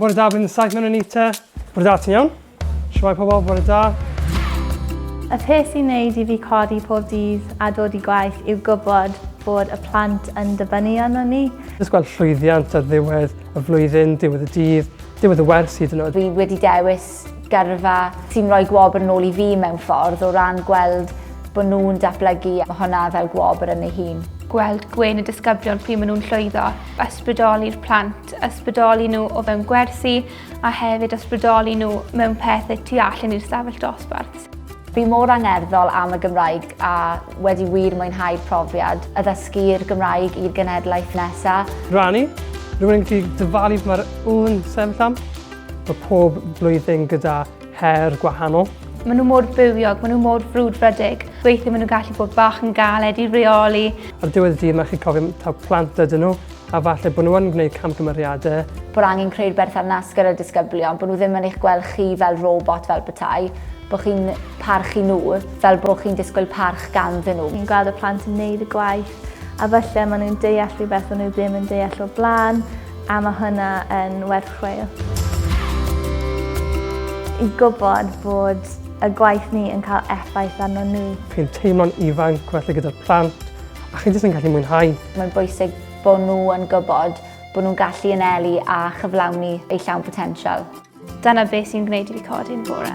Bore da, bydd yn saith mewn Anita. Bore da, ti'n iawn? Siwai pobl, bore da. Y peth sy'n neud i fi codi pob dydd a dod i gwaith yw gwybod bod y plant yn dibynnu arno ni. Jyst gweld llwyddiant ar ddiwedd y flwyddyn, diwedd y dydd, diwedd y wers hyd yn oed. Fi wedi dewis gyrfa sy'n rhoi gwobr yn ôl i fi mewn ffordd o ran gweld bod nhw'n datblygu a hwnna fel gwobr yn ei hun. Gweld gwên y disgyblion pryd maen nhw'n llwyddo, ysbrydoli'r plant, ysbrydoli nhw o fewn gwersi a hefyd ysbrydoli nhw mewn pethau tu allan i'r stafell dosbarth. Fi mor angerddol am y Gymraeg a wedi wir mwynhau'r profiad, addysgu'r Gymraeg i'r genhedlaeth nesaf. Rani, rwy'n gallu dyfalu mae'r ŵyn sefyll am. Mae pob blwyddyn gyda her gwahanol. Maen nhw mor bywiog, maen nhw mor frwdfrydig. Weithiau maen nhw'n gallu bod bach yn galed i reoli. Ar diwedd y dydd mae chi cofio taw plant ydyn nhw a falle bod nhw yn gwneud camgymeriadau. Bod angen creu'r berthynas gyda'r disgyblion, bod nhw ddim yn eich gweld chi fel robot fel petai, bod chi'n parchu nhw fel bod chi'n disgwyl parch ganddyn nhw. Ni'n gweld y plant yn wneud y gwaith a falle maen nhw'n deall rhywbeth maen nhw ddim yn deall o'r blaen. A mae hwnna yn werth chweil. I gwybod bod y gwaith ni yn cael effaith arno nhw. Chi'n teimlo'n ifanc felly gyda'r plant a chi jyst yn gallu mwynhau. Mae'n bwysig bod nhw yn gwybod bod nhw'n gallu anelu a chyflawni eu llawn potensial. Dyna beth sy'n gwneud i fi codi'n bore.